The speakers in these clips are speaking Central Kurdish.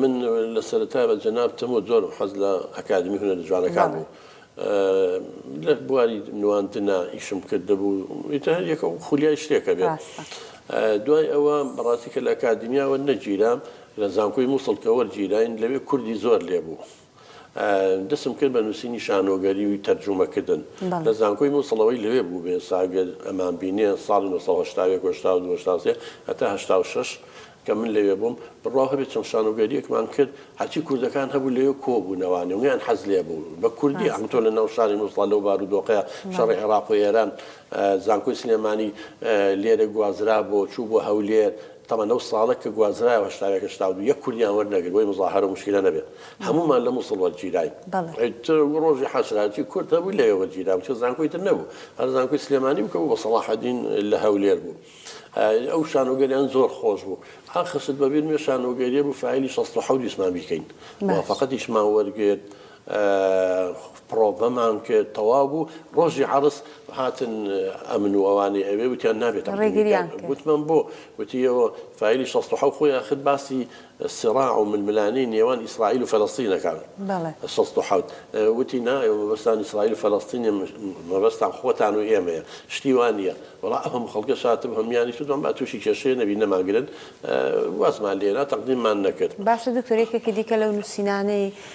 من لە سەرەتای بە جەنابتم و زۆرم حەز لە ئەکادمی هونەرە جوانەکان بوو. لە بواری نواندنا ئیشم کردبوو ئیتر هەر یەکە و خولیای شتێکە بێت. دوای ئەوە بەڕاستی کە لە ئەکادیمیاوە نەگیرا، لە زانکۆی مووسڵ کە وەرگیراین لەوێ کوردی زۆر لێبوو. دەستم کرد بە نووسینی شانۆگەری و تەرجومەکردن. لە زانکۆی موسڵەوەی لەوێ بوو بێ سا گەر ئەمان بینێ ساڵی نۆ سەد و هەشتا و یەک و هەشتا و دوو و هەشتا و سێ هەتا هەشتا و شەش کە من لەوێ بووم بڕواو هەبێ چەند شانۆگەرییەکمان کرد هەرچی کوردەکان هەبوو لەوێ کۆ بوو نەوانی و نیان حەز لێ بوو بە کوردی ئەم تۆ لە ناو شاری موسڵا لەو بارو دۆخەیا شەڕی عێڕاق و ئێران زانکۆی سلێمانی لێرە گوازرا بۆ چوو بۆ هەولێر تەمەن لەو ساڵە کە گوازرایەوە هەشتا و یەک هەشتا و دوو یەک کوردیان وەرنەگرت بۆی موزاهەرە و موشکیلە نەبێت هەموومان لە موسڵ وەرگیراین بەڵێ. ئیتر ڕۆژی حەشراتی کورد هەبوو لەوێ وەرگیرابوو چون زانکۆی تر نەبوو هەر زانکۆی سلێمانی بوو کە بوو بە سەڵاحەدین لە هەولێر بوو ئەو شانۆگەریان زۆر خۆش بوو ئا خشت بەبیرمێ شانۆگەریە بوو فایلی شەست و حەوت ویستمان بیکەین بەس. موافەقەتیشمان وەرگرت پڕۆڤەمان کرد تەواو بوو ڕۆژی عەڕس هاتن ئەمن و ئەوانی ئەوێ وتیان نابێت تەقدیمی بکەن ڕێگریان کرد. گوتمان بۆ؟ گوتی ئێوە فایلی شەست و حەوت خۆی ئاخر باسی سراع و ململانێی نێوان ئیسرائیل و فەلەستین ئەکات بەڵێ. شەست و حەوت وتی نا ئێوە مەبەستتان ئیسرائیل و فەلەستین نیە مەبەستتان خۆتان و ئێمەیە شتی وا نیە وەڵا ئەو هەموو خەڵکەش هاتبوو هەموویانیش وتمان با تووشی کێشەیە نەبین نەمانگرن وازمان لێنا تەقدیممان نەکرد. باشە دکتۆر یەکێکی دیکە لەو نوسینانەی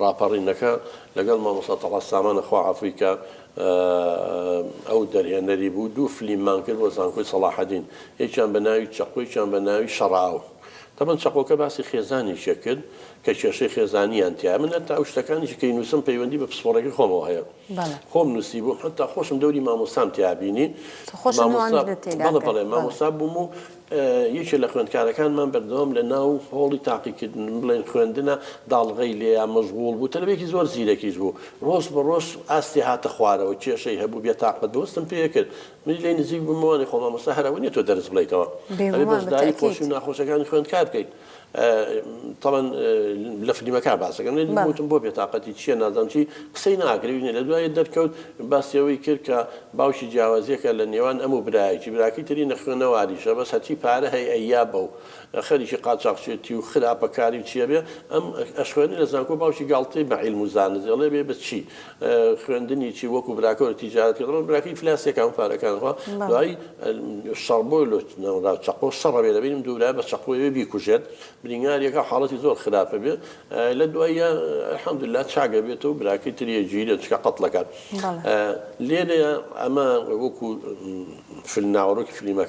ڕاپەڕینەکە لەگەڵ مامۆستا تەڵعەت سامانە خوا عەفوی کا ئەو دەرهێنەری بوو دوو فلیممان کرد بۆ زانکۆی سەڵاحەدین یەکیان بە ناوی چەقۆ یەکیان بە ناوی شەڕاو تەبەن چەقۆکە باسی خێزانێکێ کرد کە کێشەی خێزانیان تیا من هەتا ئەو شتەکانیشی کەی نووسم پەیوەندی بە پسپۆڕێکی خۆمەوە هەیە خۆم نووسی بووم هەتا خۆشم دەوری مامۆستام تیابینی بەڵێ بەڵێ مامۆستا بووم و یەکێ لە خوێندکارەکانمان بەردەوام لە ناو هۆڵی تاقیکردن، بڵێین خوێندنە، داڵغەی لێیا مەژغووڵ بوو. تەلەبەیەکی زۆر زیرەکیش بوو. ڕۆژ بە ڕۆژ ئاستی هاتە خوارەوە. کێشەی هەبوو، بێتاقەت بوو. هەستم پێ کرد. منیش لێی نزیک بوومەوە، ئەڵێ خۆ مامۆستا هەر ئەوە نییە تۆ دەرس بڵێیتەوە. ئەبێ بەشداری خۆشی و ناخۆشەکانی خوێندکار بکەیت. تاڵن لە فلیمەکە باسەکەم وتم بۆ بێتاقەتی چییە نازانم چی قسەی ناکرێنێ لە دوای دەرکەوت باسیەوەی کرد کە باوکی جیاوازیەکە لە نێوان ئەم و برایەکی براکی تری نەخوێنەواریشە بەس هەچی پارە هەی ئەیا بە و خەریکی قاچاقچێتی و خراپەکاری چیە بێ ئەم ئەشخوێنی لە زانکۆ باوکی گاڵتەی بە عیلم و زانست دەڵێ بێ بچی خوێندنی چی وەکو براکە و تیجارەت کە دەڵێن براکەی فلاسێک هەموو پارەکان خوا دوایی شەڕ بۆی لۆ نەوەرا چەقۆ شەڕە بێ دەبینم دوورا بە چەقۆیەوە بیکوژێت برینگارێکە حاڵەتی زۆر خراپە بێ لە دواییە الحمدللە چاگە بێت و براکەی تریە گیرێت چکە قەتڵەکان بەڵێ لێرەیە ئەمە وەکو فیلم ناوەڕۆکی فلیمەکە